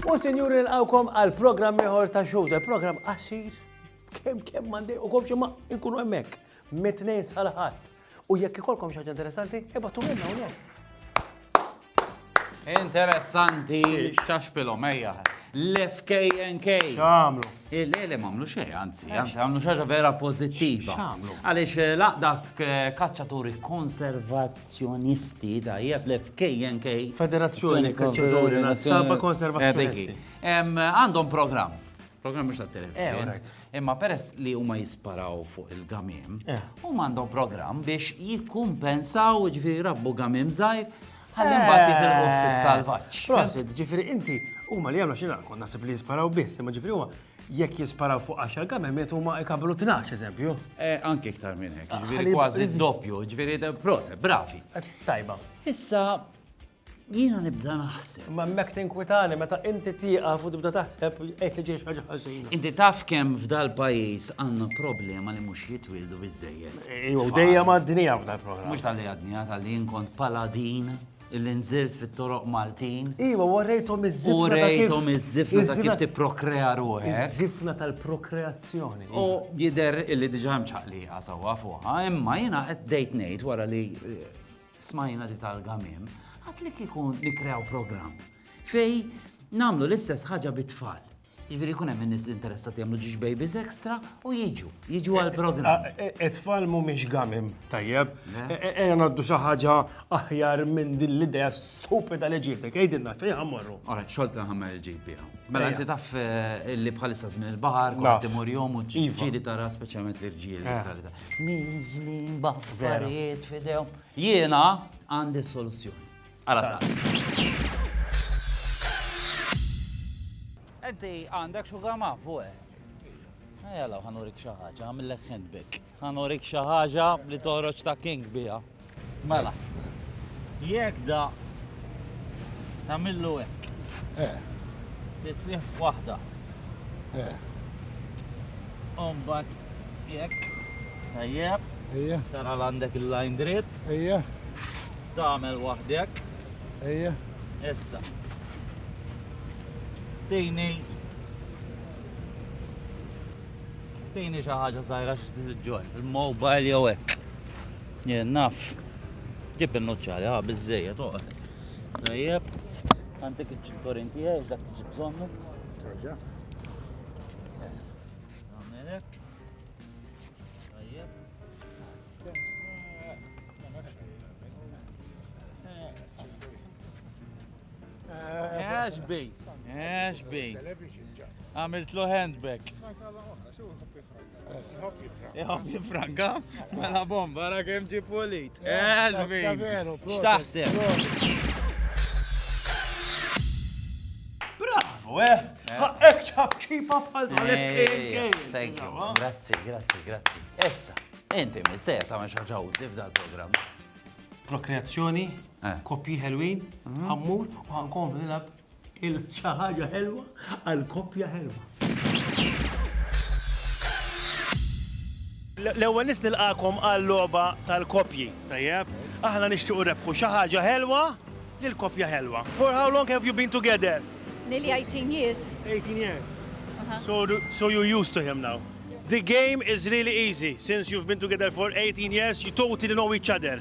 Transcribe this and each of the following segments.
U sinjuri nqawkom għal programm ieħor ta' xogħol, e programm qasir kemm kemm mandi u komx imma nkunu hemmhekk mit-tnejn sal-ħadd. U jekk ikolkom xi ħaġa interessanti, ibgħatulilna hawnhekk. Interessanti, xaxpilhom, ejja. L-FKNK. X'għamlu? Il-lele m'għamlu xejn, anzi, anzi għamlu xaġa vera pożittiva. X'għamlu? Għaliex eh, laqdak eh, kaċċaturi konservazzjonisti da jeb l-FKNK. Federazzjoni Kaċċaturi Nazzaba Konservazzjonisti. Għandhom programm. Programm mhux tat-televizjoni. Eh, Imma peress li huma jisparaw fuq il-gamiem, huma għandhom programm biex jikkumpensaw ġifieri rabbu gamiem żgħir ħalli mbagħad jitilquh fis-salvaġġ. Prosit, ġifieri inti huma li jagħmlu x'inha kont naħseb li jisparaw biss, imma ġifieri huma jekk jisparaw fuq 10 gamiem qed huma jkabbru 12 eżempju. Anke iktar minn hekk, ġifieri kważi d-doppju, ġifieri proset, bravi. Tajba. Issa Jiena nibda naħseb. Ma mek tinkwitani meta inti tieqaf u tibda taħseb qed li ġej ħaġa ħażina. Inti taf kemm f'dal pajjiż għandna problema li mhux jitwildu biżejjed. Ejjew eh, dejja mad-dinja f'dal programm. Mhux tal-li għadnija tal-li jinkont paladin illi nżirt fit-toroq Maltin. Iva, warrejtom iż-żifna. U rejtom iż-żifna ta' kif tipprokrea ruħek. Iż-żifna tal-prokreazzjoni. U jider illi diġa mċaqli għasawa fuqa, imma jina qed dejt ngħid wara li eh, Smajna li tal-gam hemm, għad li kieku nikrew programm fej namlu l-istess ħaġa bit-tfal. Ġifieri jkun hemm in-nies li interessati jagħmlu ġiex babies extra u jiġu, jiġu għall-programm. It-tfal mhumiex gamim, tajjeb. Ejja ngħaddu xi ħaġa aħjar minn din l-idea stupida li ġibtek. Għidilna fejn ħammorru. Ora, xogħol ta' ħammer il-ġib biha. Mela inti taf li bħalissa żmien il-baħar, kont imur jom u ġieli tara speċjalment l-irġiel. Mizli, baffariet, fidejhom. Jiena għandi soluzzjoni. Għala sa. Enti għandek xugar ma' fuq. Ejja law ħanurik xi ħaġa, għamillek handbag. Ħanurik xi ħaġa li toħroġ ta' king biha. Mela, jekk da tamillu hekk. Eh. Titlih waħda. Eh. Umbat jekk tajjeb. Ejja. Tara għandek il-line dritt. Ejja. Tagħmel waħdek. Ejja. Issa. Tini. Tini xi ħaġa żgħira xi tiġġor. Il-mobile jew hekk. Jien naf. Ġib il-nuċċali, ha, biżżejjed, oqgħod. Tajjeb. Għandek iċ-ċinturin tiegħi dak tiġi bżonnu. Terġa'. Nagħmel hekk. Tajjeb. Għax bej, għax bej. Għamilt lu handbag. Iħob jifranka, mela bomba, ra kem ġi pulit. Elvin! Xtaħseb? Bravo, eh! Ek ċab ċipa bħal Thank you, grazzi, grazzi, grazzi. Essa, inti mi se ta' maċħaġa u tif dal-program. Prokreazzjoni, eh. kopji ħelwin, għammur, eh. u għankom nilab Il xi ħaġa ħelwa għal koppja ħelwa. L-ewwel nies nilqakom għal logħba tal-koppji, tajjeb? Aħna nixtiequ rebħu xi ħaġa ħelwa lil koppja ħelwa. For how long have you been together? Nearly 18 years. 18 years. Uh-huh. So, do, so you're used to him now. The game is really easy. Since you've been together for 18 years, you totally know each other.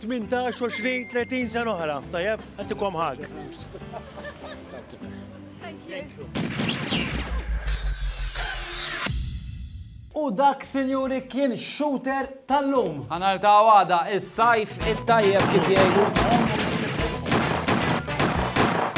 18, 20, 30 sena oħra, tajjeb, għatikom ħag. U dak, sinjuri, kien shooter tal-lum. Għanar ta' għada, il-sajf il-tajjeb kif jgħidu.